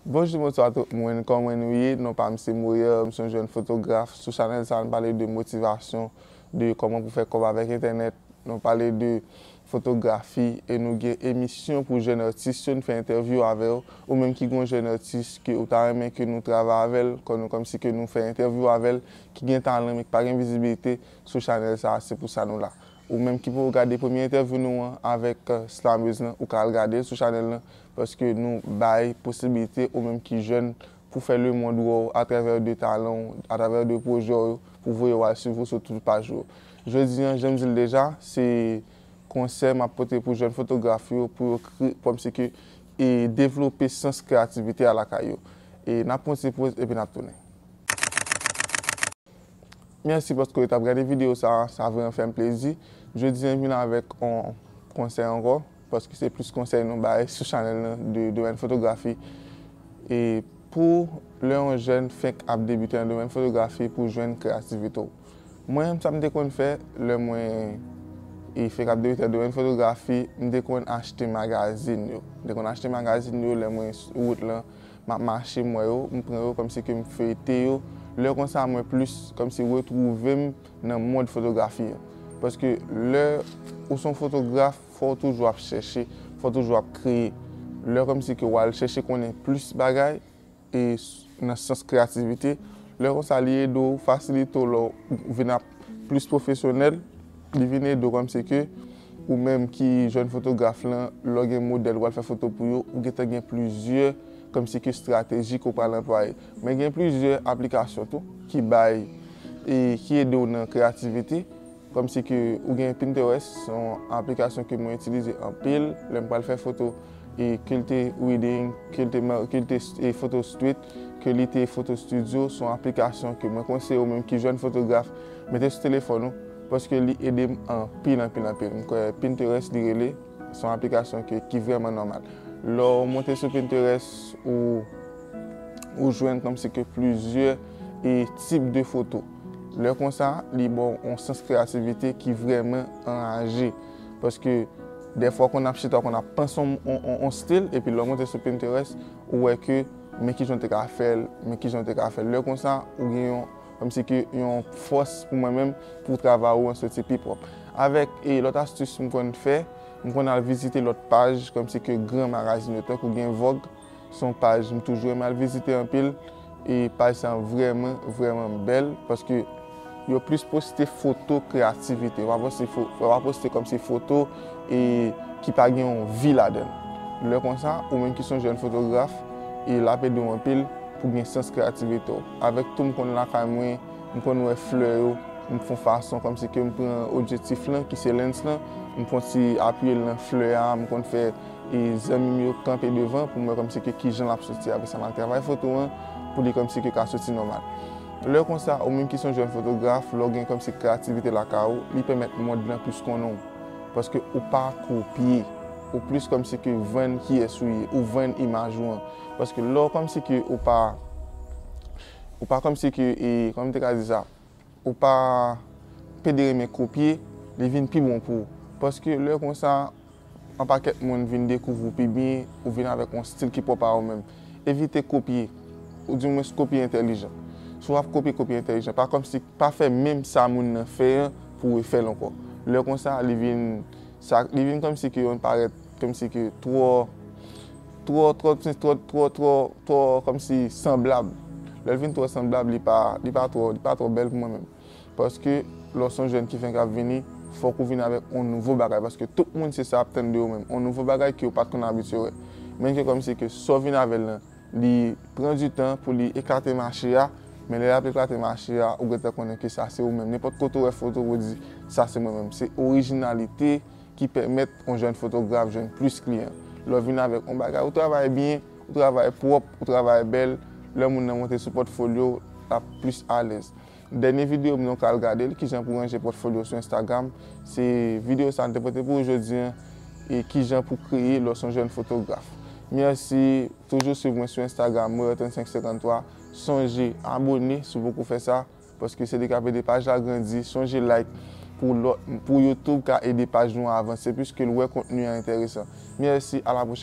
Bonjou bonswa tout moun kòman nou ye non pam se Moyer m son jèn fotograf sou chanèl sa nou pale de motivasyon de kòman pou fè kòb avèk entènèt nou pale de fotografi e nou gen emisyon pou jèn atis yo nou fè entèvyou avèw ou menm ki gen yon jèn atis ke ou ta renmen ke nou travay avèl kòmsi ke nou fè entèvyou avèl ki gen talan men ki pa gen vizibilite sou chanèl sa se pou sa nou la. Ou menm ki poko gade premye entèvyou nou an avèk slammeuse lan ou ka al gadel sou chanèl lan paske nou bay posibilite ou menm ki jèn pou fè le mond wèw atravè de talanw atravè de pwojèw yo pou voyew al swiv ou sou tout paj yo. Jodi an janm dil deja se konsèy map pote pou jèn fotograf yo pou yo kòm si ke e devlope sans kreyativite a lakay yo. E nap pran yon ti poz epi nap tounen. Merci paske ou tap gade video sa a, sa vreman fèm plezi. Jodi an vin avèk on konsèy ankò, paske se plis konsèy nou bay sou chanèl nan de domèn fotografi. E pou lè on jèn fenk ap debite nan domèn fotografi pou jwenn kreyativite ou. Mwen menm sa m te konn fè lè mwen e fenk ap debite nan domèn fotografi, m te konn achte magazin yo. M te konn achte magazin yo lè mwen sou wout lan. Map mache m wè yo, m pran yo kòmsi ke m feyte yo, lè konsa mwen plis kòmsi retwouve m nan mond fotografi an. Paske lè ou son fotograf fò w toujou ap chèche, fò w toujou ap kreye. Lè kòmsi ke wal chèche konnen plis bagay e nan sans kreyativite, lè konsa li ede w, fasilite w lè w vin ap plis pwofesyonèl, li vin ede w kòmsi ke Ou menm ki jèn fotograf lan, lè w gen modèl w al fè foto pou yo, ou gentan gen plizyè kòmsi ke estrateji ke w pral anplwaye. Men gen plizyè aplikasyon tou ki bay e ki ede w nan kreyativite. Kòmsi ke ou gen Pinterest, se yon aplikasyon ke mwen itilize anpil lè m pral fè foto. Kilte Wedding, Kilte Photo Street, Kelite Photo Studio son aplikasyon ke mwen konseye ou menm ki jèn fotograf mete sou telefòn ou paske li ede m anpil anpil anpil. M kwè Pinterest li rele, son aplikasyon ke ki vrèman nòmal. Lè ou monte sou Pinterest ou ou jwenn kòmsi ke plizyè e tip de foto. Lè konsa li ba w on sans kreyativite ki vrèman anraje. Paske dèfwa w konn ap chita, w konn ap panse yon stil, epi lè w monte sou Pinterest, ou wè ke men kijan w te ka fè l, men kijan w te ka fè l. Lè konsa, ou gen yon, kòm si ke yon fòs pou mwen menm, pou travay ou an soti pi pwòp. Avèk lòt astis m konn fè, m konn al vizite lòt paj, kòm si ke gran magazin yo, tankou gen Vogue. Son paj m toujou renmen al vizite anpil e paj sa vrèman vrèman bèl paske yo plis poste foto kreyativite yo pa poste kòmsi foto e ki pa gen yon vi ladann lè konsa ou menm ki son jèn fotograf e lap edew anpil pou gen sans kreyativite w avèk tou m konn lakay mwen m konn wè flè yo m fon fason kòmsi ke m pran odjetif lan ki se lens lan m fon ti apiyel nan flè a m konn fè. E zanmim yo kanpe devan pou m wè kòmsi ke kijan l ap soti. Apre sa m al travay foto an pou li kòmsi ke ka soti nòmal. Lè konsa, ou menm ki son jèn fotograf, lè w gen kòmsi kreyativite lakay ou, li pèmèt mond lan plis konnen w. Paske ou pa kopye. Ou plis kòmsi ke vann kiyès ou ye. Ou vann imaj ou an. Paske lè w kòmsi ke ou pa, ou pa kòmsi ke e, kòman m te ka di sa? ou pa pede renmen kopye, li vin pi bon pou ou. Paske lè konsa, an pakèt moun vin dekouvri w pi byen, ou vin avèk yon stil ki pwòp a ou menm. Evite kopye, ou di mwens kopye entèlijan. Si w ap kopye, kopye entèlijan. Pa kòmsi, pa fè menm sa moun nan fè an pou w refè l ankò. Lè konsa, li vin, sa, li vin kòmsi ke yon parèt, kòmsi ke twò. Twò twò twò twò twò twò twò kòmsi sanblab. Lè l vin twò sanblab li pa li pa twò li pa twò bèl pou mwen menm. Paske lè w s on jèn ki fenk ap vini fòk ou vin avèk on nouvo bagay paske tout moun se sa ap tann de ou menm on nouvo bagay ke ou pat konn abitye wè. Menn ke kòmsi ke sa w vin avè l lan li pran di tan pou li eklate mache a men lè l ap eklate mache a ou gentan konnen ke sa se ou menm. Nenpòt kote w wè foto w di sa se mwen menm. Se orijinalite. ki pèmèt yon jèn fotograf jwenn plis kliyan. Lè w vin avèk yon bagay ou travay byen, ou travay pwòp, ou travay bèl, lè moun nan monte sou pòtfolyo w, l ap plis alèz. Dènye videyo m nan w ka al gade l, Kijan pou ranje pòtfolyo w sou Instagram. Se videyo sa a n te pote pou ou jodi an, Kijan pou kreye lè w se yon jèn fotograf. Mèsi, toujou swiv mwen sou Instagram Moyè 3553. Sonje abone si w poko fè sa. Paske se li kap ede paj la grandi. Sonje like pou lòt pou youtube ka ede paj nou avanse pwiske l wè kontni an enteresan. Mèsi a la pwochèn.